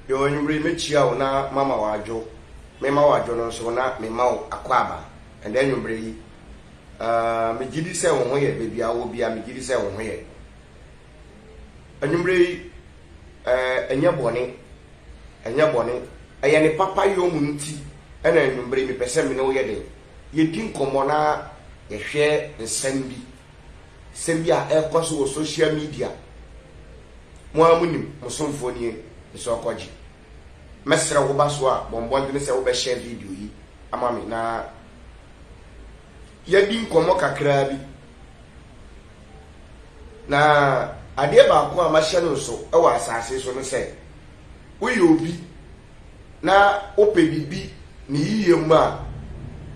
Yo anwummere mɛkyia wo na mama wo adwo Mema wo adwo no nso na mema wo akwaaba Ɛnnɛ anwummere yi aah megye di sɛ wo ho yɛ Baabi a wowɔ biara megye di sɛ wo ho yɛ Anwummere yi eh ɛnyɛ bɔne ɛnyɛ bɔne Ɛyɛ ne papa yɔ mu nti na anwummere yi mepɛ sɛ me ne wo yɛ dɛn Yɛdi nkɔmmɔ na yɛhwɛ nsɛm bi sɛm bi a ɛkɔ so wɔ social media mo ara mo nim mo somfoɔ nie ne sɛ ɔkɔgye mɛsrɛ wo ba so a bɔ mmɔdene sɛ wobɛhyɛ video yi ama me na yɛdi nkɔmmɔ kakraa bi na adeɛ baako a mahyɛ no nso wɔ asase so no sɛ woyɛ obi na wopɛ biribi ne yiye mu a,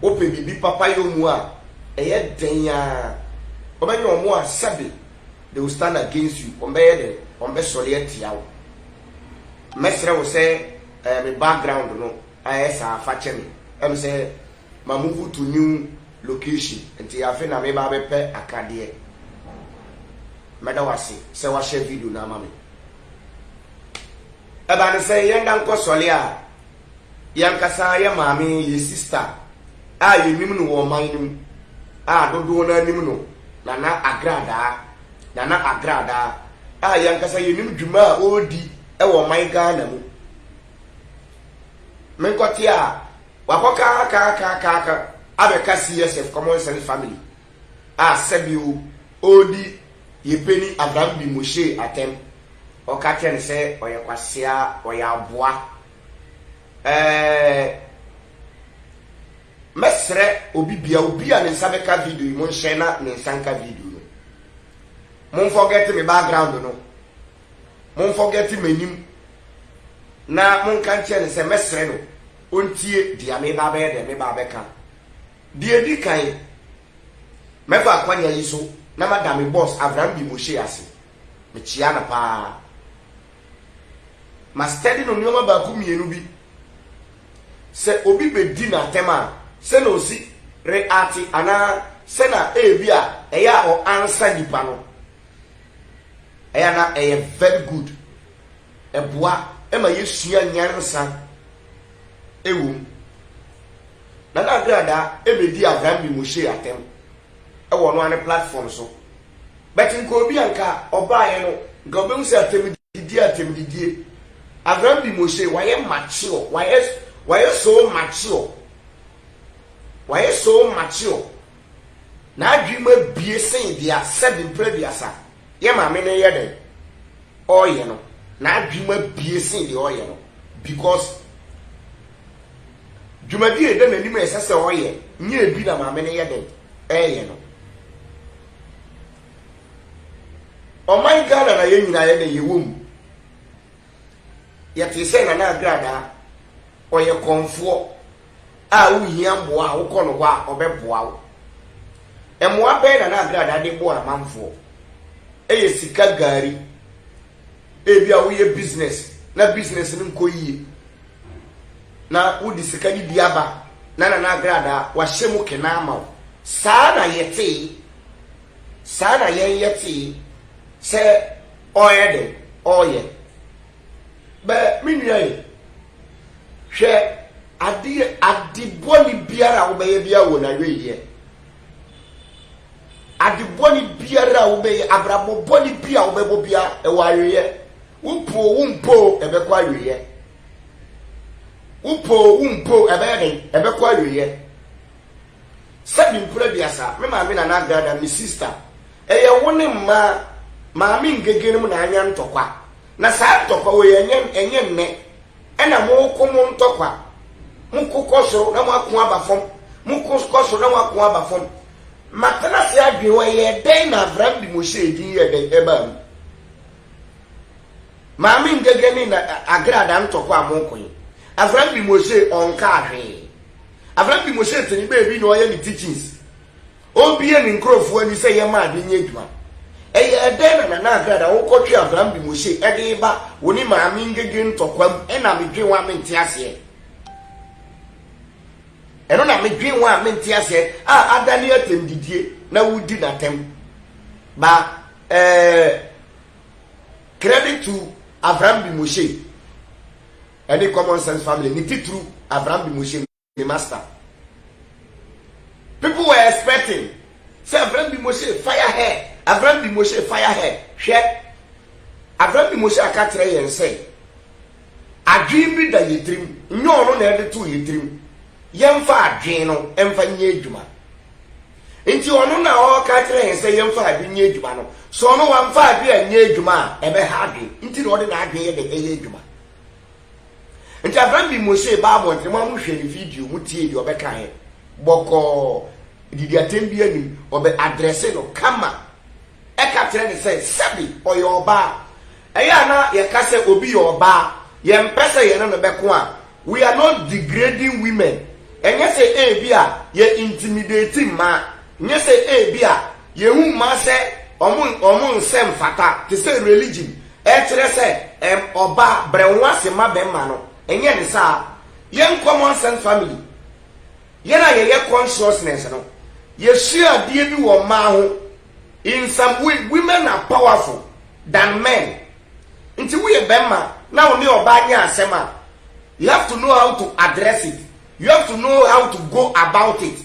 wopɛ biribi papayɔ mu a, ɛyɛ dɛn ara a, wɔbɛyɛ wɔn a sɛbe, they will stand against you, wɔbɛyɛ dɛn, wɔbɛsɔre atia wo. Mɛsrɛ wo sɛ ɛɛ me background no ayɛ saa fa kyɛ me, ɛm sɛ ma move to new location nti afe na meba abɛpɛ akadeɛ. Mɛda wo ase sɛ wahyɛ video no ama me. Ɛba no sɛ yɛn da nkɔ sɔle a, yɛn ankasa yɛn maame, yɛn sista a yɛnnim no wɔ ɔman no mu a dodoɔ no ara nim no, Nana Agradaa, Nana Agradaa a yɛn ankasa yɛnim dwuma a ɔredi wɔ ɔman Ghana mu. Menkɔte a, wakɔ kaakaakaakaaka abɛka CSF, Common Sense Family. a sɛbio ɔɔdi yɛpɛni Abraham bi Moshe atɛm, ɔka kyerɛ no sɛ ɔyɛ kwasea, ɔyɛ aboa. Ɛɛɛɛ mɛsrɛ obi bia, obi a ne nsa bɛka video yi, monhyɛ na ne nsa nka video no. Monfɔgɛte me background no, monfɔgɛte m'anim, na monka nkyerɛ no sɛ mɛsrɛ no ɔntie dea meba abɛyɛ dɛn, meba abɛka. Deɛ ɛdi kan, mɛfa akwannya yi so na mada me bɔs Avram Di Moshe ase. Mekyea no pa ara. Mastɛde no nneɛma baako mmienu bi. Sɛ obi bɛdi no atɛm a, sɛnea ɔsi reate anaa sɛnea ebia ɛyɛ a ɔansa nnipa no, ɛyɛ a na ɛyɛ very good. Ɛboa ma yɛsua nyansa wom. Nana Agradaa ɛbɛdi Abraham de Moshe atɛm ɛwɔ ɔno ara ne platform so but nka obi a nka ɔbaeɛ no nka ɔbɛhu sɛ atɛmdidie atɛmdidie Abraham de Moshe wayɛ mature wayɛ wayɛ so mature wayɛ so mature n'adwene mu abie sen deɛ asɛbi mpere aduasa yɛ maame no yɛ dɛn ɔɔyɛ no n'adwene mu abie sen deɛ ɔɔyɛ no because Dwumadi a ɛda n'anim a ɛsɛ sɛ ɔyɛ nyɛ ebi na maame no yɛ dɛn reyɛ no. Ɔman Ghana na yɛn nyinaa yɛ dɛn yɛwɔ mu. Yɛtee sɛ Nana Agradaa, ɔyɛ kɔmfoɔ a wohia mmoa a wokɔ no hɔ a ɔbɛboa wo. Mmoa bɛn Nana Agradaa de boa amanfoɔ? Ɛyɛ sika, gari, Ebia woyɛ business na business no nkɔ yie, na wode sika no bi aba na Nana Agradaa wahyɛ mu kena ama wo. Saa na yɛtee, saa na yɛn yɛtee sɛ ɔreyɛ dɛn? Ɔreyɛ. Bɛ me nua yi, hwɛ adeɛ, ade bɔne biara a wobɛyɛ biara wɔ n'awieeɛ. Ade bɔne biara a wobɛyɛ, abrabɔ bɔne bi a wobɛbɔ biara, ɛwɔ aweeɛ. Wopɛ o, wompɛ o, ɛbɛkɔ aweeɛ. Wopɛ o, wompɛ o, ɛbɛyɛ dɛn? Ɛbɛkɔ aweeɛ. Sɛ mempere aduasa, me maame Nana Agrada, me sista, ɛyɛ wo ne mma Maame Ngege no mu na anya ntɔkwa. Na saa ntɔkwa wei, ɛnyɛ nnɛ. Ɛna moko mo ntɔkwa. Moko kɔ soro na moako aba fam. Moko kɔ soro na moako aba fam. Matena ase adwene hɔ, ɛyɛɛ dɛn na Avram de Mose edin yɛɛ dɛn? Ɛbaa mu. Maame Ngege ne na Agrada ntɔkwa a moko yi, Avram de Mose ɔnkaa hwee. Avram de Mose te ne baabi na ɔyɛ ne teachings. Ɔrebue ne nkurɔfoɔ ani sɛ yɛmma ade nyɛ adwuma. Ɛyɛɛ dɛn na Nana Agrad a wokɔtwe Abraham de Moshe de reba wo ne Maame Ngege ntɔkwa mu na medwen wo a mente aseɛ? Ɛno na medwen wo a mente aseɛ a adane atɛmdidie na woredi no atɛm. Ba eh, credit to Abraham de Moshe ne Common Sense Family, ne titiriw Abraham de Moshe. Me master. People were expecting sɛ Avram bi Moshe fire hair, Avram bi Moshe fire hair. Hwɛ, Avram bi Moshe aka kyerɛ yɛn sɛ adwene bi da yɛ tirim, nyɛ ɔno na ɛde too yɛ tirim, yɛmfa adwene no mfa nyɛ adwuma. Nti ɔno na ɔka kyerɛ yɛn sɛ yɛmfa adwene nyɛ adwuma no, sɛ ɔno wamfa adwene anyɛ adwuma a, ɛbɛha adwene, nti na ɔde n'adwene yɛ dɛ ɛyɛ adwuma. nti afei mi mo se baa abɔnten mo amu hwɛ ne video mo tie deɛ ɔbɛka yɛ bɔkɔɔ didi atɛm bi anim ɔbɛ adrɛse no kama ɛka kyerɛ ne sɛ sɛbi ɔyɛ ɔbaa ɛyɛ a na yɛka sɛ obi yɛ ɔbaa yɛmpɛ sɛ yɛne no bɛko a we are not degrading women ɛnyɛ sɛ ebi a yɛ intimidate mmaa nyɛ sɛ ebi a Yehu mmaa sɛ wɔn wɔn nsɛm mfata te sɛ religion ɛkyerɛ sɛ ɛm ɔbaa brɛ wo ho ase ma bɛmma no ɛnyɛ ne saa yɛn common sense family yɛn a yɛyɛ consciousness no yɛsua adeɛ bi wɔ mmaa ho in some way women are powerful than men nti woyɛ bɛmma na wo ne ɔbaa nyɛ asɛm a you have to know how to address it You have to know how to go about it.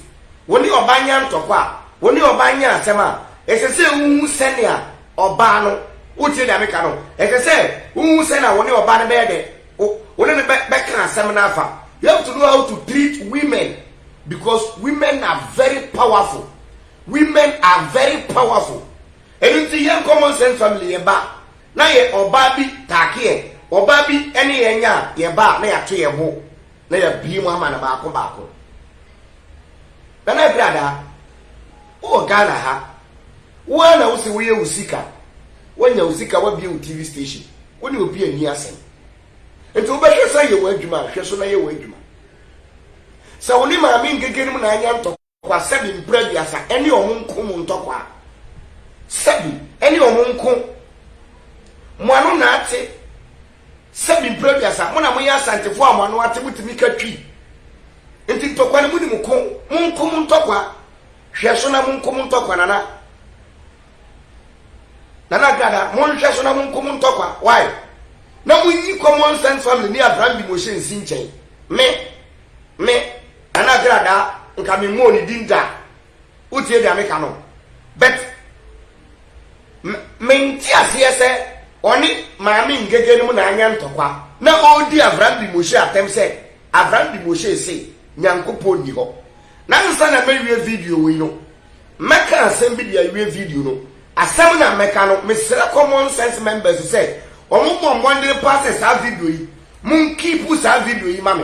Wo ne ɔbaa nya ntɔkwa a, wo ne ɔbaa nya asɛm a, ɛsɛ sɛ wuhu sɛnea ɔbaa no, wotie nea meka no? Ɛsɛ sɛ wuhu sɛnea wo ne ɔbaa no bɛyɛ dɛ, wo, wo ne no bɛ, bɛka asɛm no afa. You have to know how to treat women because women are very powerful. Women are very powerful. Ɛno nti yɛn common sense family yɛ ba na yɛ ɔbaa bi taake yɛ, ɔbaa bi ne yɛn nya a, yɛ ba a na yɛato yɛn bo. Na yɛabue mu ama no baako baako. Nana Agradaa, wowɔ Ghana ha, wo ara na wose woyɛ wo sika, woanya wo sika, woabue wo TV station, wo ne obi anni asɛm. Nti wobɛhwɛ sɛ ayɛ w'adwuma a, hwɛ so na yɛ w'adwuma. Sɛ wo ne Maame Ngege nom na anya ntɔkwa. Kwa sɛbi mpra aduasa ɛne ɔmo nko mo ntɔ kwa sɛbi ɛne ɔmo nko mo ano na ate sɛbi mpra aduasa mo na mo yɛ asantefo a mo ano ate mo tumi ka twi nti ntɔkwa no mo ni mo ko mo nko mo ntɔ kwa hwɛ so na mo nko mo ntɔ kwa nana nana agrada mo nhwɛ so na mo nko mo ntɔ kwa why na mo nyi common sense family ni abram bi mo hyɛ nsi nkyɛn me me Nana Kradaa nka me mmɔɔ ne din da wo tie deɛ meka no but me nte aseɛ sɛ ɔne Maame Ngege nom na anya ntɔkwa na ɔredi Avrambi Moshe atɛm sɛ Avrambi Moshe se Nyankopɔn nni hɔ. Na ansa na mɛwie video wei no mɛka asɛm bi de awie video no. Asɛm na mɛka no mesrɛ common sense members sɛ wɔn mmɔ mmɔden paa sɛ saa video yi mo nkeepu saa video yi ma me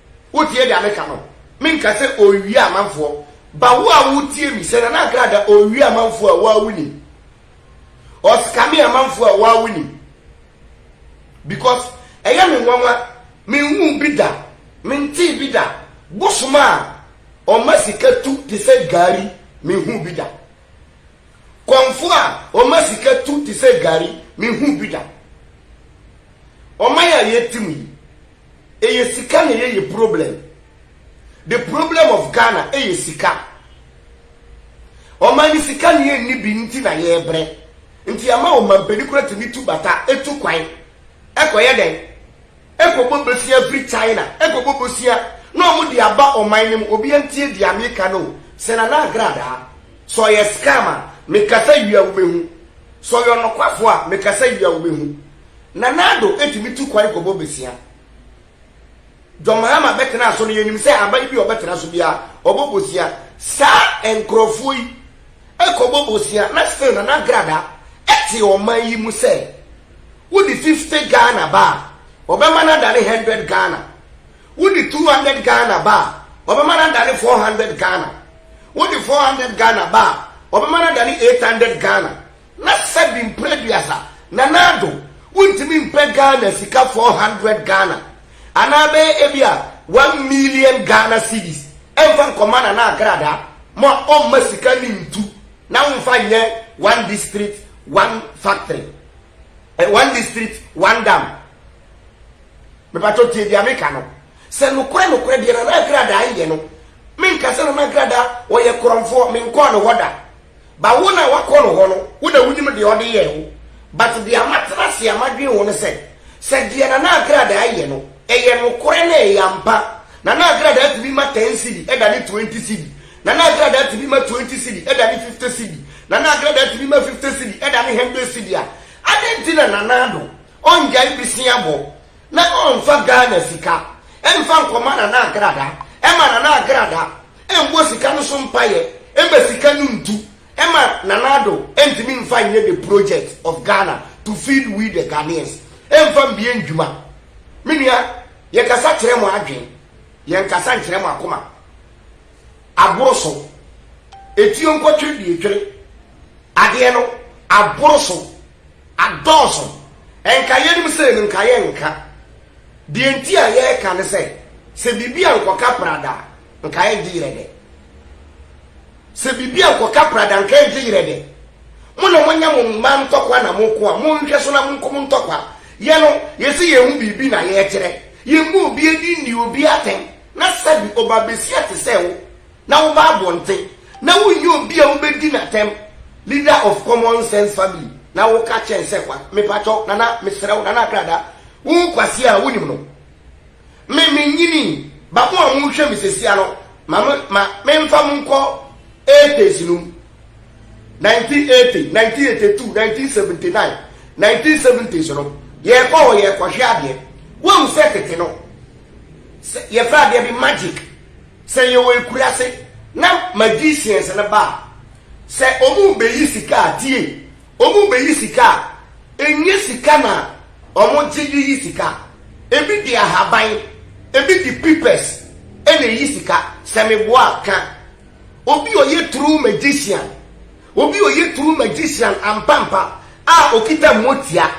Wotie deɛ meka no? Menka sɛ ɔrewia amanfoɔ. Ba wo a wotie me, sɛ Nana Akra da, ɔrewia amanfoɔ a, wo ara wonim. Ɔscame amanfoɔ a, wo ara wonim. Because ɛyɛ me nwanwa, menhuu bi da, mentee bi da. Bosom a ɔma sika tu te sɛ gari, menhuu bi da. Kɔmfoɔ a ɔma sika tu te sɛ gari, menhuu bi da. Ɔman a yɛte mu yi. Ɛyɛ sika na yɛyɛ problem. The problem of Ghana ɛyɛ sika. Ɔman no sika na yɛnni bi nti na yɛbrɛ. Nti ama ɔmampanin kora tumi tu bata, ɛtu kwan, ɛkɔyɛ dɛn? Ɛkɔbɔ bosea firi China, ɛkɔbɔ bosea na wɔde aba ɔman no mu. Obiara ntie deɛ meka no o. Sɛ Nana Agradaa, sɛ ɔyɛ scam a, mekasa wie a wobɛhu. Sɛ ɔyɛ ɔnokwafoɔ a, mekasa wie a wobɛhu. Nana Addo tumi tu kwan kɔbɔ bosea. John Mahama bɛtenaa so no, yɛnim sɛ aban bi a ɔbɛtena so biara, ɔbɔ bosea. Saa nkorɔfoɔ yi kɔbɔ bosea na still Nana Agradaa te ɔman yi mu sɛ wode 50 Ghana ba a, ɔbɛma no adane 100 Ghana. Wode 200 Ghana ba a, ɔbɛma no adane 400 Ghana. Wode 400 Ghana ba a, ɔbɛma no adane 800 Ghana. Na sɛbi mpo aduasa Nana Addo wontumi mpɛ Ghana sika four hundred Ghana anaa bɛyɛ ebia one million Ghana cedis mfa nkɔma Nana Agradaa mo a ɔmma sika no ntu na womfa nyɛ one district one factory eh, one district one dam mepatɔ tie deɛ meka no sɛ nokorɛ nokorɛ deɛ Nana Agradaa yɛ no menka sɛ Nana Agradaa ɔyɛ korɔmfoɔ menkɔɔ ne hɔ da Ba wo na wakɔ no hɔ no wo na wonim deɛ ɔde yɛɛ wo but deɛ matena ase a madwen ho ne sɛ sɛ deɛ Nana Agradaa yɛ no ɛyɛ nokorɛ na ɛyɛ ampa Nana Agradaa tumi ma ten cedi ɛdane twenty cedi Nana Agradaa tumi ma twenty cedi ɛdane fifty cedi Nana Agradaa tumi ma fifty cedi ɛdane hundred cedi a adɛn nti na Nana Addo ɔngyae bosea bɔ na ɔmfa Ghana sika mfa nkɔma Nana Agradaa ɛma Nana Agradaa Ɛnbɔ sika no so mpaeɛ ɛma sika no ntu ɛma Nana Addo ɛntumi nfa nyɛ the project of Ghana to feed we the Ghanaians ɛnfa mbie ndwuma Me nua yɛkasa kyerɛ mo adwen yɛnkasa nkyerɛ mo akoma Aboro so Etuo nkɔtwere deɛ etwere adeɛ no aboro so. Adɔɔso. Nka yɛnim sei no, nka yɛnka. Deɛ nti a yɛreka ne sɛ, sɛ biribi ankɔka prada a, nka ɛngye yerɛ dɛ. Sɛ biribi ankɔka prada a, nka ɛngye yerɛ dɛ. Mo na moanya mo mma ntɔkwa na moko a, monhwɛ so na monko mo ntɔkwa. Yɛ no, yɛse yɛhu biribi na yɛkyerɛ. Yɛmmɔ obi ani nni obi atɛn, na sɛbi, ɔbaabasia te sɛ wo. na woba abɔnten na wonyi obi a wobedi no atɛm, leader of common sense family, na woka kyerɛ no sɛ kwa, mepakyɛw nana, mesrɛ wo nana Akrada, wo nkwasea a wunim no. Me, minyinii, ba mo a mohwɛ me sesia no, ma me, ma memfa mo nkɔ eighties no mu. 1980, 1982, 1979, 1970s no, yɛkɔ hɔ yɛkɔhwɛ adeɛ. Woahu sɛ tete no, sɛ yɛfrɛ adeɛ bi magic, Sɛ yɛwɔ akuraase na magicians no ba a, sɛ wɔrebɛyi sika a, tie, wɔrebɛyi sika a, ɛnyɛ sika na wɔgye de yi sika. Ɛbi de ahaban, ɛbi de pipers na ɛyi sika. Sɛ meboa a, ka. Obi a ɔyɛ true magician Obi a ɔyɛ true magician ampampa a ɔkita motia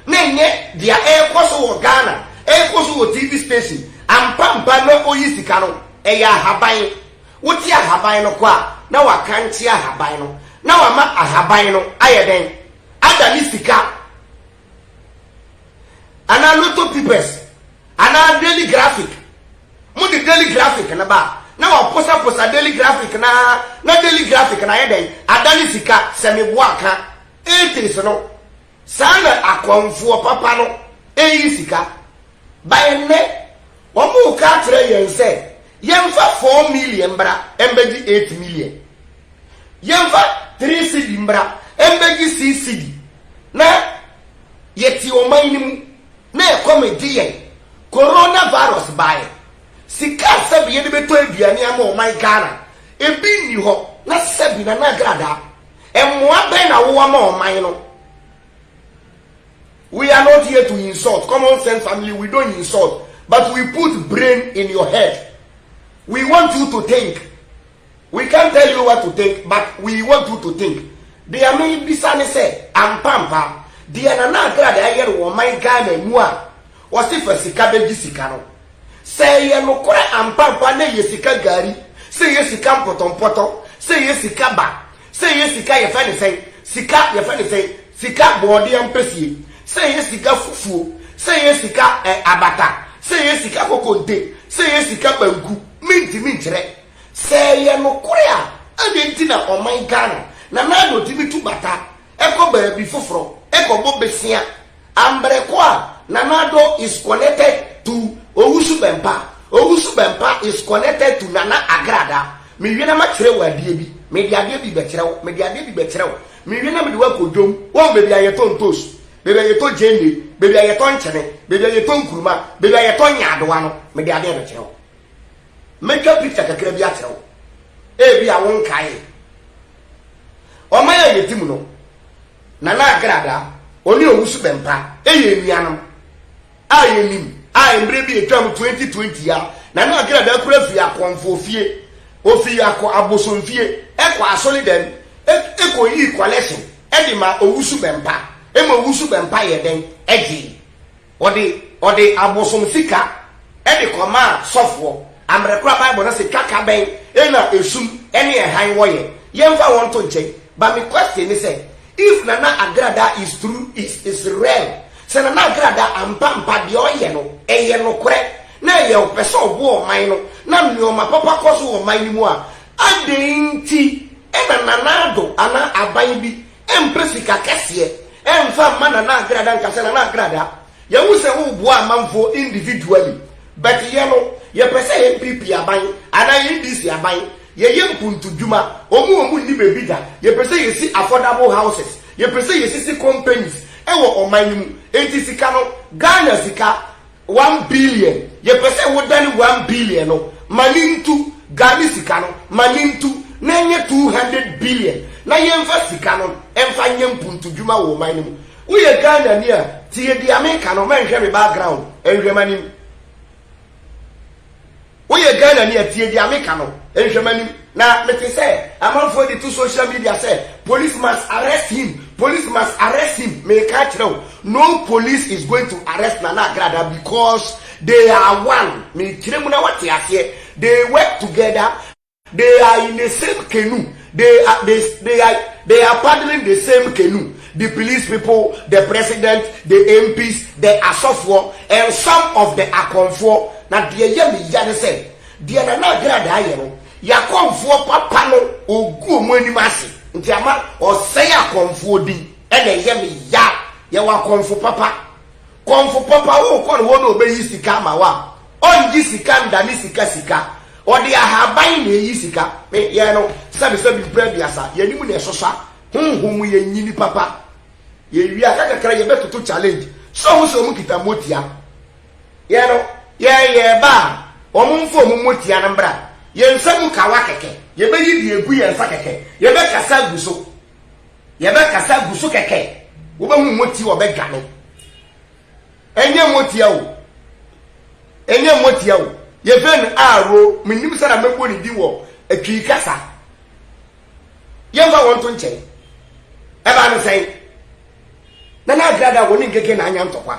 na ɛnyɛ deɛ ɛrekɔ so wɔ Ghana, ɛrekɔ so wɔ TV station ampampa na ɔyi sika no, ɛyɛ ahaban. Wote ahaban no kɔ a na wakankye ahaban no na wama ahaban no ayɛ dɛn? Ada ne sika. anaa lotto pipers anaa daily graphic mo de daily graphic no ba na waposaposa daily graphic na na daily graphic na ayɛ dɛn adane sika sɛ meboa ka 80s no saa na akɔnfoɔ papa no ɛyi sika baɛ nnɛ Wɔreka akyerɛ yɛn sɛ yɛmfa four million mbra mbɛgye eight million. Yɛmfa three cedi mbra mbɛgye six cedi na yɛte ɔman no mu na ɛkɔm gye yɛn. Corona virus baeɛ, sika a sɛbe yɛde bɛtɔ aduane ama ɔman Ghana, ebi nni hɔ. Na sɛbe Nana Agradaa, mmoa bɛn na wowɔ ma ɔman no? We are not here to insult common sense family we don't insult but we put brain in your head we want you to think we can't tell you what to think but we want you to think deɛ me bisa ne sɛ ampampa deɛ nana agrada ayɛ no wɔ ɔman ghana mu a wɔse fa sika bɛgye sika no sɛ ɛyɛ nokorɛ ampampa na ɛyɛ sika gari sɛ ɛyɛ sika mpɔtɔmpɔtɔ sɛ ɛyɛ sika ba Sɛ ɛyɛ sika yɛfrɛ no sɛn? Sika yɛfrɛ no sɛn? Sika bɔɔdeɛ ampesie. Sɛ ɛyɛ sika fufuo. Sɛ ɛyɛ sika ɛ abata. Sɛ ɛyɛ sika kokonte. Sɛ ɛyɛ sika banku. Mentumi nkyerɛ. Sɛ ɛyɛ nokore a, adɛn nti na ɔman Ghana, Nana Addo tumi tu bata kɔ baabi foforɔ kɔbɔ besia? Ambrɛ kɔ a Nana Addo is connected to Owusu Bɛmpa, Owusu Bɛmpa is connected to Nana Agrada, Mewie na makyerɛ wo adeɛ bi, Mede adeɛ bi bɛkyerɛ wo, Mede adeɛ bi bɛkyerɛ wo, Mewie na mede wo akɔ dwom, Woahu baabi a yɛtɔ ntoosu, Baabi a yɛtɔ gyeene, Baabi a yɛtɔ nkyene, Baabi a yɛtɔ nkuruma, Baabi a yɛtɔ nyaadowa no, Mede adeɛ bɛkyerɛ wo. Mɛtwa picture kakra bi akyerɛ wo, ebi a wonkae. Ɔman a yɛdi mu no, Nana Agrada, ɔne Owusu Bɛmpa yɛ anuanom a yɛnim a mmerɛ bi ɛtwaam 2020 a, Nana Agrada kura firi akɔmfoɔ fie, ɔfiri akɔ abosomfie, ɛkɔ asɔre dɛm, ɛkɔyii collection de maa Owusu Bɛmpa, ɛma Owusu Bɛmpa yɛɛ dɛn? Ɛgyee. Ɔde ɔde abosom sika de kɔmaa sɔfoɔ. Amberɛ koraa bible no se twaka bɛn na esum ne ɛhan wɔ yɛ? Yɛnfa wɔn nto nkyɛn but me question ne sɛ if Nana Agrada is true is is real sɛ Nana Agrada ampa mpa deɛ ɔyɛ no ɛyɛ nokorɛ na ɛyɛ ɔpɛ sɛ ɔboa ɔman no na nnoɔma papa kɔ so wɔ ɔman no mu a, adɛn nti na Nana Addo anaa aban bi Ɛmpɛ sika kɛseɛ ɛnfa mma Nana Agrada nka sɛ Nana Agrada yɛhu sɛ wo boa amanfoɔ individually but yɛ no yɛpɛ sɛ NPP aban anaa NDC aban yɛyɛ mpuntudwuma ɔmo a ɔmo nni baabi da yɛpɛ sɛ yɛsi affordable houses yɛpɛ sɛ yɛsisi companies ɛwɔ ɔman no mu enti sika no Ghana sika One billion yɛpɛ sɛ wo dane one billion no ma ne ntu Ghane sika no ma ne ntu na ɛnyɛ two hundred billion na yɛnfa sika no nfa nyɛ mpuntu dwuma wɔ ɔman no mu woyɛ Ghana ni a tie deɛ meka no mɛnhwɛ me background nhwɛ m'anim Woyɛ Ghanani a tie deɛ meka no, nhwɛ m'anim. Na mete sɛ amanfoɔ de to social media sɛ police must arrest him, police must arrest him, meka akyerɛ wo, no police is going to arrest Nana Agradaa because they are one, mekyerɛ mu na woate aseɛ, they work together, They are in the same canoe they are they they are they are paddling the same canoe the police people the president the MPs the asɔfoɔ and some of the akɔmfoɔ na deɛ yɛ me ya ne sɛ deɛ Nana Agradaa yɛ no y'akɔmfoɔ papa no ɔgu wɔn anim ase nti ama ɔsɛe akɔmfoɔ din ɛna ɛyɛ me ya yɛwɔ akɔmfo papa Kɔmfo papa wo kɔ no hɔ na ɔbɛyi sika ama wo a, ɔngye sika nda ne sika sika. Ɔde ahaban na ɛyi sika. Me yɛɛ no sɛbi sɛbi mpra aduasa. Yɛnim na ɛsosɔ a, honhom mu yɛ nyi nipa pa. Yɛ wie a, aka kakra yɛ bɛ toto challenge. Sɛ ɔmo sɛ ɔmo kita motia. Yɛ no, yɛ yɛ ba a, ɔmo nfa ɔmo motia no mbra. Yɛ nsa mu kawa kɛkɛ. Yɛ bɛyi deɛ ɛgu yɛ nsa kɛkɛ. Yɛ bɛ kasa agu so. yɛbɛkasa gu so kɛkɛ wobɛhu moti wɔbɛdwa no ɛnyɛ motia o ɛnyɛ motia o yɛfrɛ no aro menim sɛ na mɛbɔ ne di wɔ atwii kasa yɛmfa wɔn to nkyɛn ɛbaa no sɛn Na na Agrada a wɔne Ngege na anya ntɔkwa.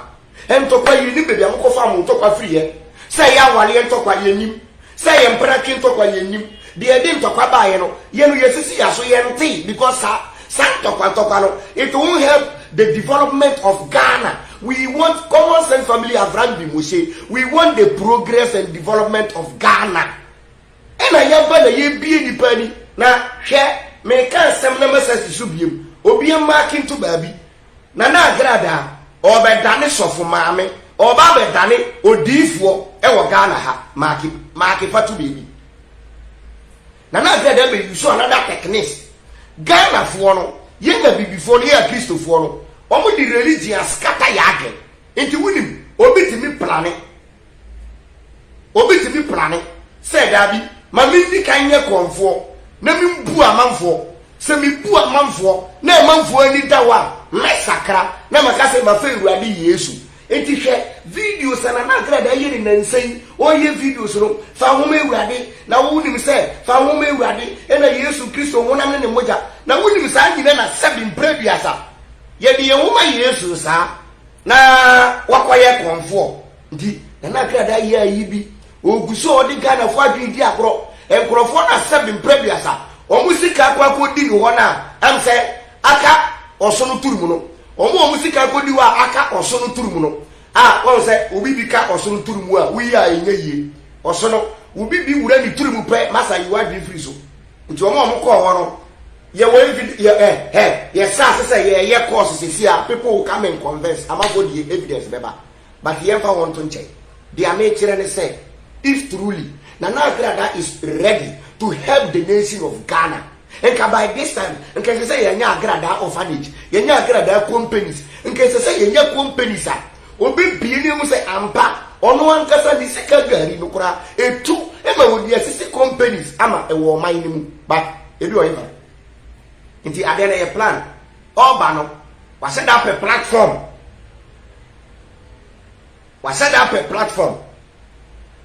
Ntɔkwa yiri nim baabi a mokɔfaa mo ntɔkwa firi ɛ. Sɛ ɛyɛ awareɛ ntɔkwa, yɛnnim. Sɛ ɛyɛ mperatwe ntɔkwa, yɛnnim. Deɛ ɛde ntɔkwa baeɛ no, yɛn no yɛsisi yɛn aso, yɛntee because saa, saa ntɔkwa ntɔkwa no, it won't help the development of Ghana. We want common sense family Avram Bimosey, we want the progress and development of Ghana. Ɛna yɛba na yɛbie nnipa ani na hwɛ meka nsɛm na masa si so biom obie mmaake nto baabi Nana Agradaa ɔɔbɛdane sɔfo maame ɔɔba abɛdane odiyifoɔ ɛwɔ Ghana ha maake maake fa to baabi Nana Agradaa bɛ use another techniques Ghana foɔ no yɛn abibifoɔ no yɛn akristofoɔ no wɔn de religion askata yɛ adwen nti wonim obi tumi plane Obi tumi plane sɛ, Dabi, ma mendi kan nyɛ korɔmfoɔ na membu amanfoɔ. Sɛ mebu amanfoɔ na amanfoɔ ani da hɔ a, mɛsakra na maka sɛ mafa Awurade Yesu. Enti hwɛ videos a Nana Agradaa yɛ ne nnansa yi. Ɔreyɛ videos no, Fa Nhoma Awurade, na wonim sɛ Fa Nhoma Awurade, ɛnna Yesu Kristo honam ne ne mogya, na wonim saa nyina na sɛbe mprɛ aduasa. Yɛde yɛn ho ma Yesu saa. Na wakɔyɛ kɔmfoɔ nti Nana Akradaa yɛ ayi bi ɔgu so ɔde Ghanafoɔ adwene di agorɔ nkorɔfoɔ no asɛm mprɛ duasa wɔn sika kɔ akɔdi no hɔ no a ɛm sɛ aka ɔsono turum no wɔn a wɔn sika akɔdi hɔ a aka ɔsono turum no a wɔn sɛ obi bi ka ɔsono turum a woyi a ɛnyɛ yie ɔsono obi bi wura ne turum pɛ masa yi wadwene firi so nti wɔn a wɔn kɔɔ hɔ no Yɛ wɔ evid yɛ ɛ hɛ yɛ sa ase sɛ yɛ yɛ course sesi a people will come and convince amanfoɔ de evidence bɛba but yɛn fa wɔn nto nkyɛn deɛ me kyerɛ ne sɛ if truly Nana Agradaa is ready to help the nation of Ghana nka by this time nka ɛsɛ sɛ yɛ nya Agradaa orphanage yɛ nya Agradaa companies nka ɛsɛ sɛ yɛ nya companies a Wobebue no ahu sɛ ampa ɔno ankasa ne sika gari no koraa etu ma wɔde asisi companies ama wɔ ɔman no mu ba edu ɔhe fa. Nti adeɛ no yɛ plan. Ɔɔba no wahyɛ da apɛ platform. Wahyɛ da apɛ platform.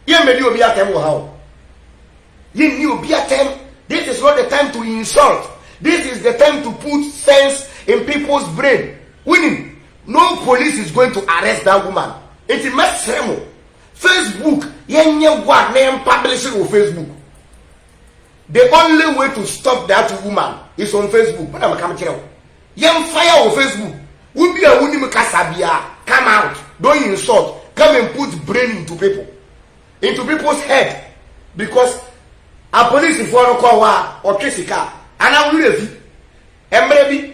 Yɛn mmɛdi obi atɛm wɔ ha o. Yɛn nni obi atɛm. This is not the time to insult. This is the time to put sense in people's brain. Wonim. No police is going to arrest that woman nti mɛsrɛ mo Facebook yɛnyɛ wad na yɛnpublish no wɔ Facebook the only way to stop that woman is on Facebook mo na meka mekyerɛ wo yɛmfa yɛ wɔ Facebook wo bi a wonim kasa bia come out don't insult come and put brain into people into people's head because apolisifoɔ no kɔ hɔ a ɔtwe sika anaa wo werɛ fi mmerɛ bi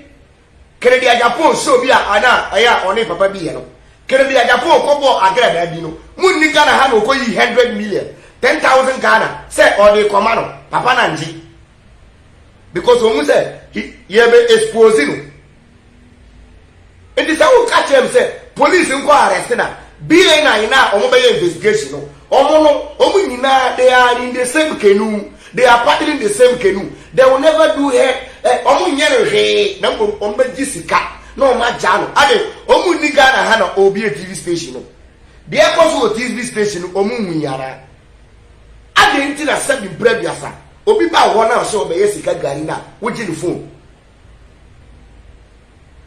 Kennedy Agyapong sɛ obi a ana ɛyɛ a ɔne papa bi yɛ no. Kennedy Agyapong kɔ bɔɔ agradaa bi no mu nni Ghana ha na ɔkɔ yii hundred million, ten thousand Ghana sɛ ɔde kɔ ma no, papa no angye because ɔhu sɛ he yɛ bɛ expose no. Nti sɛ wo ka kyerɛ me sɛ police nkɔ arrest no a, BNI no a wɔn bɛyɛ investigation no Wɔn no, wɔn nyinaa they are in the same canoe, they are paddling the same canoe, they will never do her, eh, wɔn nyɛ no hwee, na mmom wɔn bɛgye sika na wɔn agya no. Ade, wɔn nni Ghana ha na obi yɛ TV station no. Deɛ ɛkɔ so wɔ TV station no, wɔn nhui anaa? Adɛn nti na sɛbi mpere aduasa, obi ba hɔ na ɔsɛ ɔbɛyɛ sika gari na wogye ne phone,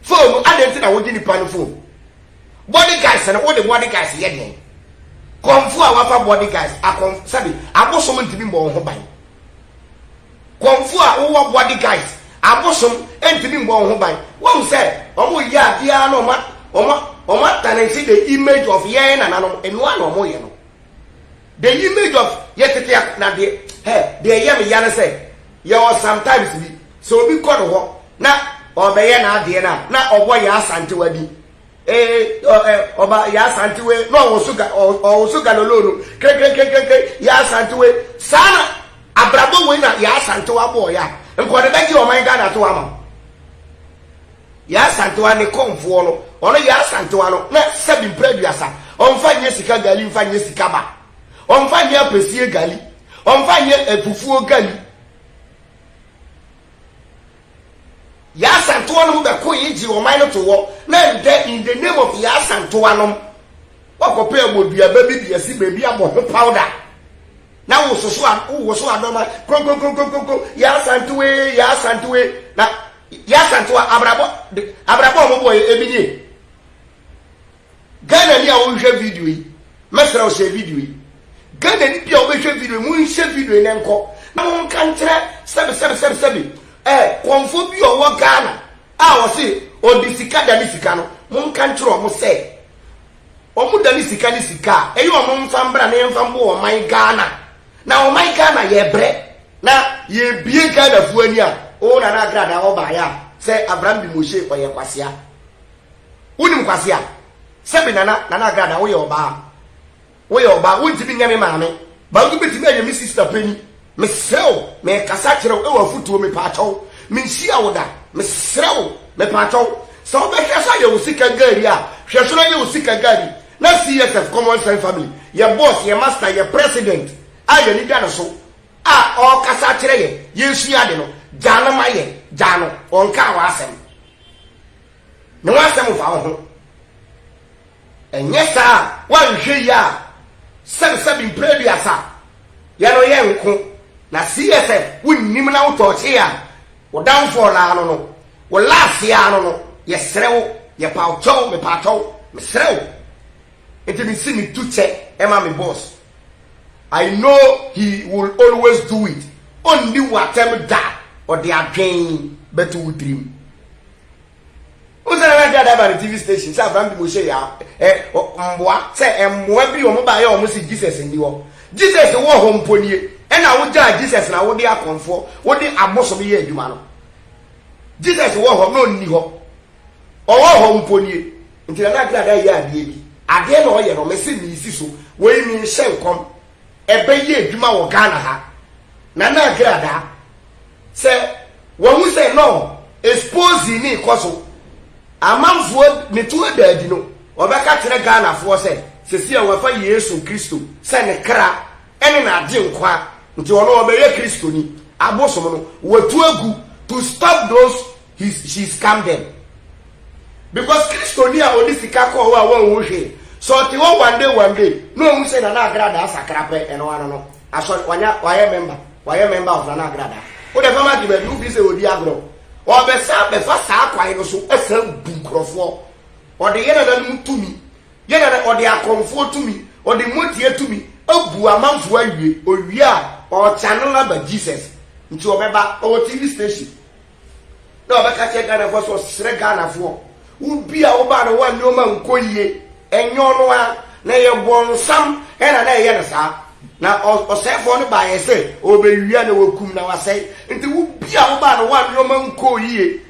Phone adɛn nti na wogye nipa no phone? Body guys no wode body guys yɛ deɛn? Kɔmfo a wafa body guys akɔm sɛbi abosom ntumi mbɔ wɔn ho ban. Kɔmfo a wowɔ body guys abosom ntumi mbɔ wɔn ho ban. Wɔn sɛ wɔn yɛ adeɛ na wɔn wɔn wɔn atanansi the image of yɛn nananom enoa na wɔn yɛ no. The image of yɛ tete a na deɛ hɛ deɛ ɛyɛ me ya ne sɛ yɛwɔ sometimes bi sɛ obi kɔ ne hɔ na ɔrebɛyɛ n'adeɛ no a na ɔbɔ Yaa Asantewa din ee ɔ ɛ ɔba Yaa Asantewa na ɔwoso ga ɔ ɔwoso galolo no krekrekrekrekre Yaa Asantewa saa na abrabɔ wei na Yaa Asantewa bɔɔ yɛ a nkɔde bɛgye ɔman Ghana to ama wo. Yaa Santewa ne kɔmfoɔ no. Ɔno Yaa Santewa no, na sɛbi mpra aduasa. Ɔmfa nyɛ sika gali, mfa nyɛ sika ba. Ɔmfa nyɛ apesie gali. Ɔmfa nyɛ afufuo gali. Yaa Santewa nom bɛkoeɛ gyee ɔman no too hɔ. Na ɛndɛ, in the name of Yaa Santewa nom, woakɔpɛ abɔduaba bi de asi baabi abɔ ho powder. Na wososo a, wowoso adɔma, kronkronkronkronkron, Yaa Santewa ee, Yaa Santewa ee. Na. Yɛ Asantewaa abrabɔ de abrabɔ a wɔn bɔɔ yɛ ebi nie. Ghana ni a wɔnhwɛ video yi, mɛsrɛ wo hyɛ video yi. Ghana ni bi a wɔbɛhwɛ video yi, monhyɛ video yi na nkɔ na monka nkyerɛ sɛbi sɛbi sɛbi sɛbi eh, kɔmfo bi a ɔwɔ Ghana a ɔse ɔde sika da ne sika no, monka nkyerɛ wɔn sɛ wɔn da ne sika ne sika a ɛyɛ wɔn mfa mbra na yɛmfa mboa ɔman Ghana. Na ɔman Ghana yɛbrɛ na yɛbie Ghana foɔ ani a oo Nana Agradaa ɔbaeɛ a sɛ Abraham Demoshe ɔyɛ kwasea wonim kwasea sɛbi Nana Nana Agradaa woyɛ ɔbaa woyɛ ɔbaa wontimi nyɛ me maame but wobɛtimi ayɛ me sister pani mesrɛ wo mekasa kyerɛ wo ɛwɔ afutuo mepaakyɛ wo menhyia wo da mesrɛ wo mepaakyɛ wo sɛ wobɛhwɛ so ayɛ wo sika gari a hwɛ so no ayɛ wo sika gari Na CSF, Common Sense Family, yɛn boss, yɛn master, yɛn president a yɛn ani da ne so a ɔrekasa akyerɛ yɛn, yɛresua ade no, gyaa no ma yɛn, gyaa no, ɔnkaa w'asɛm. Ne ho asɛm mfa wo ho. Ɛnyɛ saa a, woanhwɛ yie a, sɛbesɛbe mprɛ aduasa, yɛn no yɛnko, na CSF wonnim na wotɔɔkye a, Wo downfall no ara no no, wo last yi ara no no, yɛsrɛ wo, yɛpa wo kyɛw, mepa kyɛw, mesrɛ wo. Nti mese metu kyɛ ɛma me boss. I know he will always do it, ɔnni wo atɛm da, ɔde adwen bɛto wo tirim. Wohu sɛ Nana Gyada ba ne TV station sɛ Abraham de Moshe yɛ ɛ mboa sɛ mboa bi wɔn baayɛ wɔn se Jesus nni hɔ Jesus wɔ hɔ mpo nie ɛna wogyaa Jesus na wode akɔnfoɔ wode abosom yɛ adwuma no Jesus wɔ hɔ na ɔnni hɔ ɔwɔ hɔ mpo nie nti Nana Gyada yɛ adeɛ bi adeɛ na ɔyɛ no mese meesi so wei menhyɛ nkɔm ɛbɛyɛ adwuma wɔ Ghana ha Nana Gyada Sɛ wahu sɛ no exposing no rekɔ so, amanfoɔ ne to ada adi no, ɔbɛka kyerɛ Ghanafoɔ sɛ sɛsi a wafa Yesu Kristo sɛ ne kra ne n'agyenkwa nti ɔno ɔbɛyɛ Kristoni. Abosom no watu agu to stop those He, she scam them. Because Kristoni a ɔde sika kɔɔ hɔ a wɔnhu hwee, sɛ ɔte hɔ one day one day na ɔhu sɛ Nana Agradaa sakra pɛ, ɛno ano no, asɔre, wanya, wayɛ member, wayɛ member of Nana Agradaa. Wode fa ma de baabi, wofi sɛ ɔdi agorɔ. Ɔbɛsan bɛfa saa kwan no so asan bu nkurɔfoɔ. Ɔde yɛ nananom tumi, yɛ nana, ɔde akɔmfoɔ tumi, ɔde motie tumi abu amanfoɔ awie. Ɔwie a, ɔchannel aba Jesus. Nti ɔbɛba, ɔwɔ TV station. na ɔbɛka kyerɛ Ghanafoɔ sɛ ɔsrɛ Ghanafoɔ wo bi a wobaa no wo a nneɛma nkɔ yie ɛnyɛ ɔno a na ɛyɛ bɔnsam ɛna na ɛyɛ no saa na ɔsɛefoɔ no baayɛ sɛ ɔbɛwia na wakum na wasɛe nti wo bi a wobaa no wo a nneɛma nkɔ yie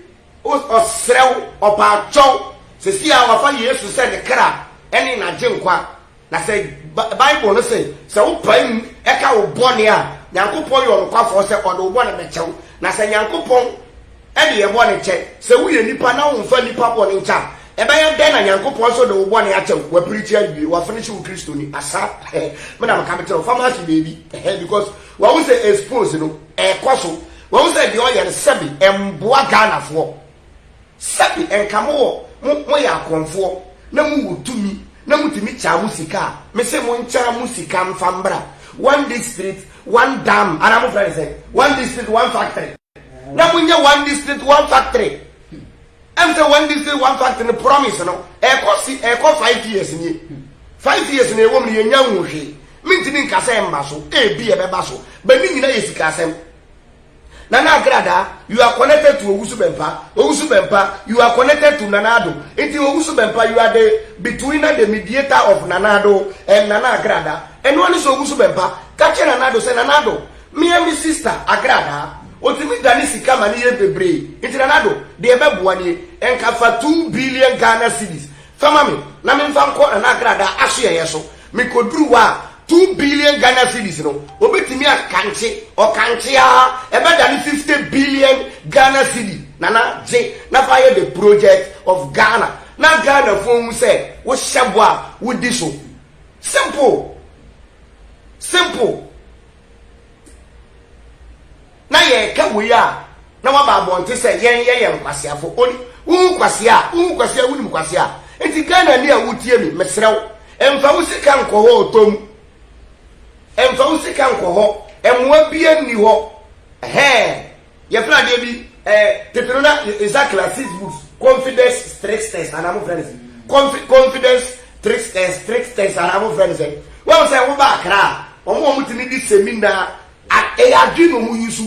ɔsrɛ wo ɔpaakyɛw sɛsi a wafa Yesu sɛ ne kra ɛne n'agye nkwa Na sɛ Bible no se, sɛ wo pae mu ka wo bɔne a, Nyankopɔn yɛ ɔnokwafɔɔ sɛ ɔde wo bɔne bɛkyɛ wo. Na sɛ Nyankopɔn de yɛn bɔne kyɛ, sɛ woyɛ nipa na womfa nnipa bɔne nkyɛ a, ɛbɛyɛ dɛn na Nyankopɔn nso de wo bɔne akyɛ wo? Wapirikyi awie. Wafinishe wo Kristoni. Asa me na meka mekyerɛ wo. Fa m'ase baabi because wahu sɛ expose no ɛrekɔ so. Wahu sɛ deɛ ɔyɛ no sɛbe ɛmboa Ghanafoɔ. Sɛbe nka mo wɔ mo mo yɛ akorɔmfoɔ na mo wɔ tumi na mo tumi kyaa mo sika a, me se mo nkyaa mo sika nfa mbra one district one dam anaa mo frɛ no sɛn one district one factory na mo nyɛ one district one factory ɛm sɛ one district one factory no promise no ɛkɔ si ɛkɔ five years nie five years na ɛwɔ mu no yɛ nya nhu hwee mentumi nka sɛ mba so ebi ɛbɛba so bɛ ne nyina yɛ sika asɛm. Nana Agrada, you are connected to Owusu Bempah, Owusu Bempah, you are connected to Nana Addo, nti Owusu Bempah you are the betweener, the mediator of Nana Addo and Nana Agrada, ɛnoa ne sɛ Owusu Bempah ka kyerɛ Nana Addo sɛ Nana Addo, me and me sister Agrada, ɔtumi dane sika ma ne yɛ bebree, nti Nana Addo, deɛ ɛbɛboa nie, nka fa two billion Ghana cedis fa ma me na memfa nkɔ Nana Agrada asoɛeɛ so. Mekoduru hɔ a, two billion Ghana cedis no, wɔbɛtumi akankye, ɔkankye ara, ɛbɛdane fifty billion Ghana cedi, Nana, gye na fa yɛ the project of Ghana na Ghanafoɔ nhu sɛ wohyɛ bɔ a, wodi so. Simple! Simple! na yɛreka wei a, na waba abɔnten sɛ yɛn yɛyɛ nkwaseafo. Oni, wohu kwasea a, wohu kwasea, wonim kwasea. Nti Ghana ni a wotie mi, mesrɛ wo, mfa wo sika nkɔ hɔ ɔtɔ mu. Mfa wo sika nkɔ hɔ, mmoa bia nni hɔ. Ɛhɛɛ. Yɛfrɛ adeɛ bi ɛɛ tete no na nsa classes books confidence tricksters anaa mo frɛ no sɛ confi confidence tricksters tricksters anaa mo frɛ no sɛ wɔn sɛ wo ba akra a wɔn wɔn ti mi di semina ɛyɛ adwi na wɔn yi so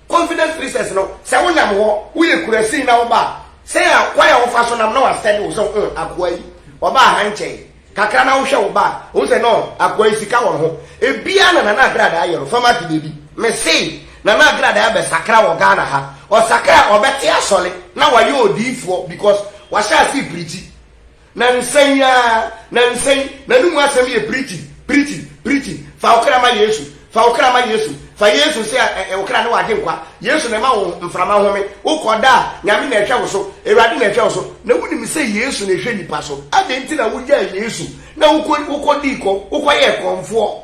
confidence tricksters no sɛ wo nam hɔ wo yɛ kura sin na wo ba sɛ a kwan a wɔfa so nam na wɔasɛ de wo sɛ ho akoa yi wɔba ahankyɛn Kakra na wohwɛ wo ba a, ohu sɛ no akoa yi sika wɔ ne ho. Ebiaa na Nana Agradaa yɛ no, fa ma kede bi. Mese Nana Agradaa abɛsakra wɔ Ghana ha. Ɔsakra a, ɔbɛte asɔre na wayɛ odiyifoɔ because wahyɛ ase prikyi. Nansa yi aa, nansa yi, n'anomu asɛm yɛ prikyi, prikyi, prikyi. Fa wo kra ma Yesu. Fa wo kra ma Yesu. Fa Yesu sɛ ɛ wo kra ne w'agyenkwa. Yesu na ɛma wo mframa home. Wo kɔ da a, Nyame na ɛhwɛ wo so. Awurade na ɛhwɛ wo so. Na wo nim sɛ Yesu na ɛhwɛ nnipa so. Adɛn nti na wo gyaa Yesu na wo kɔ wo kɔ dii kɔ wo kɔ yɛɛ kɔmfoɔ?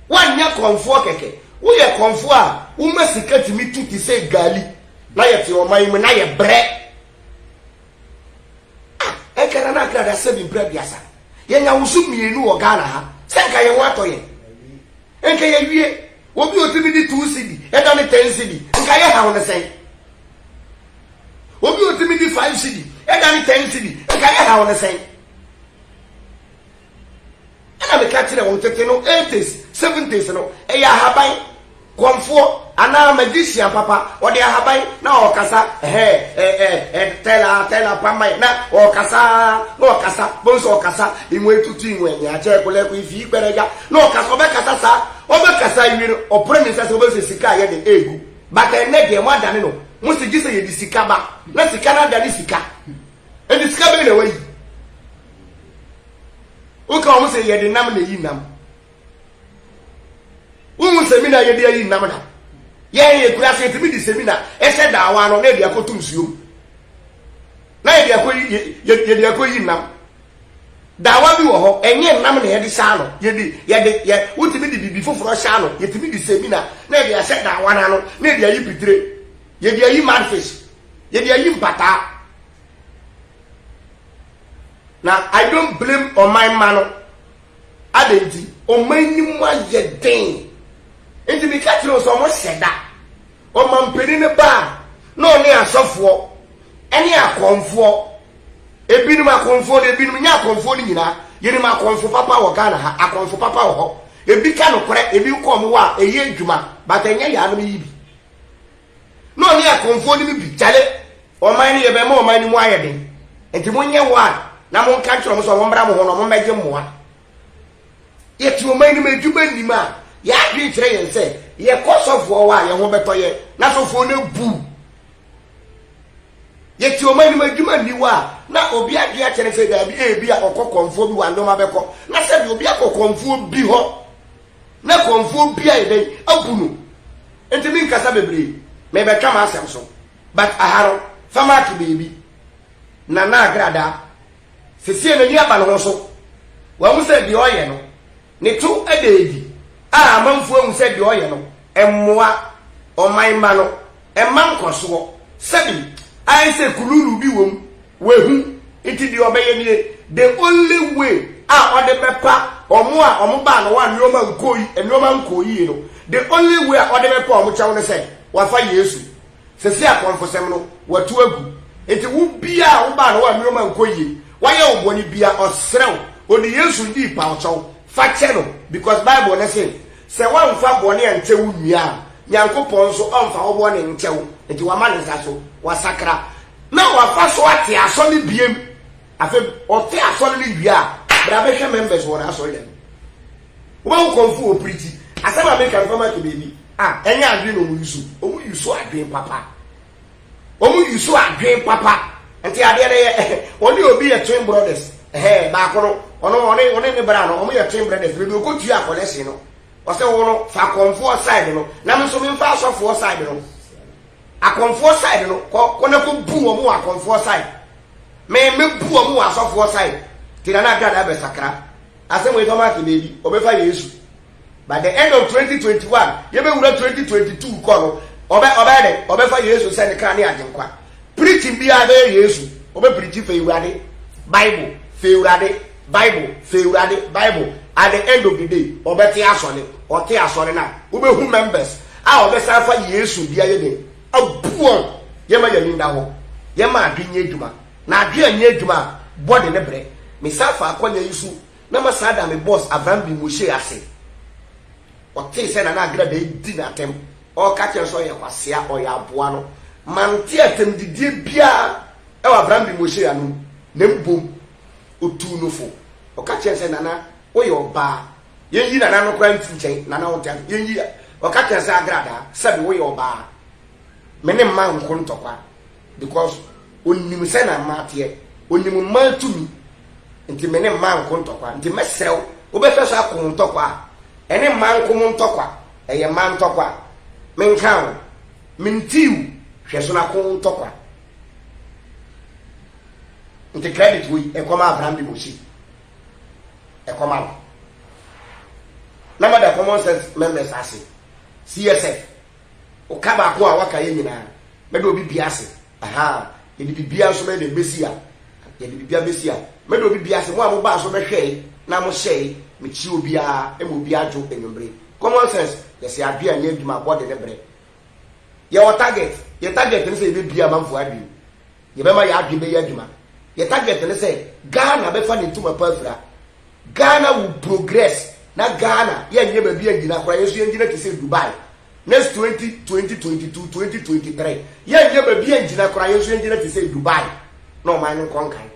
Woanyɛ kɔmfoɔ kɛkɛ. Wo yɛ kɔmfoɔ a wo ma sika tumi tu te sɛ gaali. Na yɛ te ɔman mu na yɛ brɛ. Ah! Nka Nana Accra da sɛbi mpra aduasa. Yɛnya wo so mmienu wɔ Ghana ha. Sɛ nka yɛn ho atɔ yɛn. Nka yɛawie. Obi a ɔtumi de two cedi ɛda ne ten cedi, nka yɛ haw no sɛn? Obi a ɔtumi de five cedi ɛda ne ten cedi, nka yɛ haw no sɛn? Ɛna meka kyerɛɛ wɔn, tete no, eighties, seventies no, ɛyɛ ahaban, kɔmfoɔ, anaa magician papa, ɔde ahaban, na ɔɔkasa, ɛhɛ, ɛ, ɛ, ɛ, tɛla, tɛla, pamai, na ɔɔkasa ara, na ɔɔkasa, bohu sɛ ɔɔkasa, inwe tutu inwe, nyakyɛ, kolɛko, ifii, kpɛrɛgya, na ɔɔkasa, ɔbɛkasa saa, ɔbɛkasa awie no, ɔpere ne nsa sɛ ɔbɛhu sɛ sika a ɛyɛ den ɛɛgu, but ɛnnɛ deɛ, moadane no, mose gyesɛ yɛde sika ba, na sika no adane sika, Ɛnti sika bɛn na wayi? Woka wɔn sɛ yɛde nam na eyi nam. Wohu semina yɛde ayi nam na yɛn yɛ kura ase yɛtumi di semina ɛhyɛ daawa no na yɛde akɔ to nsuo mu na yɛde akɔ yɛde akɔ yi nam. Daawa bi wɔ hɔ ɛnyɛ nam na yɛde hyɛ ano yɛde yɛde yɛ wotumi de biribi foforɔ hyɛ ano yɛtumi di semina na yɛde ahyɛ daawa no ano na yɛde ayi pitire yɛde ayi madfish Yɛde ayi mpataa. Na I don't blame ɔman mma no. Adɛn nti? Ɔman no mu ayɛ den. Nti meka kyerɛ wo sɛ wɔhyɛ da. Ɔmampanin no ba a, na ɔne asɔfoɔ, ɛne akɔmfoɔ, ebinom akɔmfoɔ no, ebinom nyɛ akɔmfoɔ no nyinaa. Yɛnim akɔmfo papa wɔ Ghana ha, akɔmfo papa wɔ hɔ. Ebi ka nokorɛ, ebi kɔ wɔn hɔ a, ɛyɛ adwuma, but ɛnyɛ yɛanom yi bi. Na ɔne akɔmfoɔ no mu bi gyale ɔman no yɛ bɛma ɔman no mu ayɛ den. Enti monyɛ one na monka nkyerɛ wɔn sɛ wɔmmra mo hɔ na wɔmmɛgye mmoa. Yɛte ɔman no mu adwuma nnim a, yɛn adwene kyerɛ yɛn sɛ yɛkɔ sɔfoɔ hɔ a yɛn ho bɛtɔ yɛn na sɔfoɔ no abu. Yɛte ɔman no mu adwuma nni hɔ a, na obi adwene akyɛ no sɛ daabi ebi a ɔkɔ kɔmfoɔ bi hɔ a nneɛma bɛkɔ. Na sɛdeɛ obi akɔ kɔmfoɔ bi hɔ na kɔmfoɔ bi ayɛ dɛn abu no. Enti me nkasa bebree me bɛka m'asɛm so but aha no fa mark baabi Nana Agradaa sesie n'ani aba ne ho so wahu sɛ deɛ ɔyɛ no ne to da adi a amanfoɔ ahu sɛ deɛ ɔyɛ no mmoa ɔman mma no mma nkɔsoɔ sɛbi ayɛ sɛ kululu bi wɔ mu Wahu, nti deɛ ɔbɛyɛ nie, the only way a ɔde bɛpa wɔn a wɔn baa no a nneɛma nkɔɔ yi, nneɛma nkɔɔ yie no, the only way a ɔde bɛpa wɔn kyɛw ne sɛ, wafa Yesu. Sɛsɛ akɔmfosɛm no, watu agu. Nti wo bia a wobaa no a nneɛma nkɔ yie, wayɛ wo bɔne bia, ɔsrɛ wo, ɔde Yesu ndii pa wo kyɛw, fa kyɛ no, because Bible no se, sɛ woamfa bɔne ankyɛ wo nua a, Nyankopɔn nso ɔmfa wo bɔne nkyɛ wo, nti wama ne nsa so, wasakra. na wafa so ate asɔ no biem afei ɔte asɔ no ne wie a bra bɛhwɛ members wɔ n'asɔ yɛ no wobɛwo kɔmfo wɔ piriti asɛm a meka no fama ke baabi a ɛnyɛ adwene na ɔmu yusu ɔmu yusu adwene papa ɔmu yusu adwene papa nti adeɛ no yɛ ɔne obi yɛ twin brothers ɛhɛ baako no ɔno ɔne ɔne ne bra no ɔmo yɛ twin brothers baabi ɔkɔ tua akɔlɛsi no ɔsɛ wo no fa kɔmfoɔ side no na me nso memfa asɔfoɔ side no Akɔmfoɔ side no kɔ kɔ na kɔ bu wɔn wɔ akɔmfoɔ side me me bu wɔn wɔ asɔfoɔ side ti na na agra na abɛ sakra asɛm wei tɔ maake baabi ɔbɛ fa yesu by the end of 2021 yɛ bɛ wura 2022 kɔ no ɔbɛ ɔbɛ dɛ ɔbɛ fa yesu sɛ ne kan ne adenkwa preaching biara bɛyɛ yesu ɔbɛ preaching fɛ ewurade bible fɛ ewurade. Bible, fɛ Awurade, Bible, at the end of the day, ɔbɛte asɔre, ɔte asɔre no a, wobɛhu members a ɔbɛsan afa Yesu de ayɛ den, abu wɔn, yɛma yɛn ani nna hɔ, yɛma adwe nyɛ adwuma, na adwe anyɛ adwuma a, body no brɛ, mesan fa akwanya yi so na masan ada me boss Avram Bimoshe ase, ɔtee sɛ Nana Agra Dayi di n'atɛm, ɔreka kyerɛ no sɛ ɔyɛ kwasea, ɔyɛ aboa no, mante atɛmdidie biara wɔ Avram Bimoshe anom, na mmom, Otuu no fo. Ɔka kyerɛɛ no sɛ, Nana, woyɛ ɔbaa. Yɛnyi Nana no koraa mfiri nkyɛn. Nana, wonte ase? Yɛnyi a. Ɔka kyerɛɛ no sɛ, Agradaa, sɛbe woyɛ ɔbaa. Me ne mmaa nko ntɔkwa. Because ɔnim sɛnea mmaa teɛ. Ɔnim mmaa tumi. Nti me ne mmaa nko ntɔkwa. Nti mɛsrɛ wo, wobɛhwɛ so ako wo ntɔkwa a, ɛne mmaa nko mo ntɔkwa. Ɛyɛ mmaa ntɔkwa. Menkaa wo. Mentii wo. Hwɛ so na ko wo ntɔkwa. Nti credit wei ɛkɔma Abraham de Mose ɛkɔma no na ma da common sense members ase CSF ɔka baako a waka yɛ nyinaa mɛde obi bia ase aha yɛde bibia nso mɛde bɛsi a yɛde bibia bɛsi a mɛde obi bia ase mo a mobaa so bɛhwɛe na mohyɛe mekyia obiara ma obiara dwo anwummere common sense yɛsɛ adwene a nyɛ adwuma abɔde ne berɛ Yɛwɔ target. Yɛn target ne sɛ yɛbɛbue amanfoɔ adwene. Yɛbɛma yɛn adwene bɛyɛ adwuma. Yɛn target ne sɛ Ghana bɛfa ne ntoma pa afira. Ghana will progress na Ghana yɛnyɛ baabi annyina koraa. Yɛn nso yɛnnyina te sɛ Dubai. Next 20, 2022, 2023 yɛnyɛ baabi annyina koraa. Yɛn nso yɛnnyina te sɛ Dubai na ɔman no nkɔ nkan.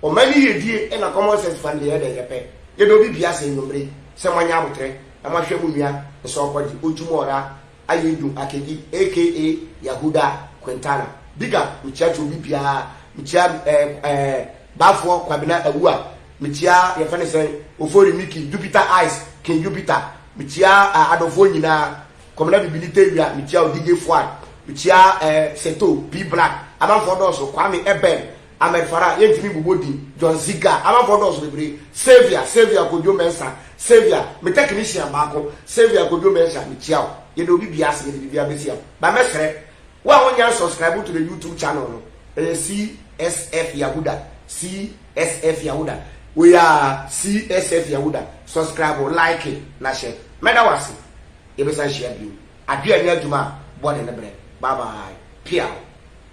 Ɔman no yiedie na common sense fa no deɛ yɛdɛn yɛpɛ. Yɛdɛ obi bia sɛ anwummere sɛ moanya aboterɛ na moahwɛ mo nua nsɛ ɔkɔgye, ɔtwum ɔra. Ayedu Akedi aka Yahuda Quintana, Big up, mekyia kyɛ obi biara, mekyia eh eh Bafoɔ Kwabena Awuah, mekyia yɛfɛ ne sɛn Ofori Mickey, Jupiter Eyes, King Jupiter, mekyia ah Adɔfoɔ nyinaa, Kɔmena Bibini Tewia, mekyia wo DJ Fuad, mekyia eh Seto, P-Black, amanfoɔ dɔɔso, Kwame Ebel, Ahmed Farah, yɛntumi bobɔ din, John Ziga, amanfoɔ dɔɔso bebree, Saviour, Saviour Kwadwo Mensah, Saviour, me technician baako, Saviour Kwadwo Mensah, mekyia wo, yɛda obi biara ase, yɛde biribiara bɛsi am, but mɛsrɛ, wo a wonnya nsubscribe to the YouTube channel no, ɛyɛ CSF Yahuda, CSF Yahuda, wei aa, CSF Yahuda, subscribe, like, na hyɛ, mɛda wo ase, yɛbɛsan hyia bio, adeɛ a ɛnyɛ adwuma a, bɔne ne berɛ, bye bye, piaw.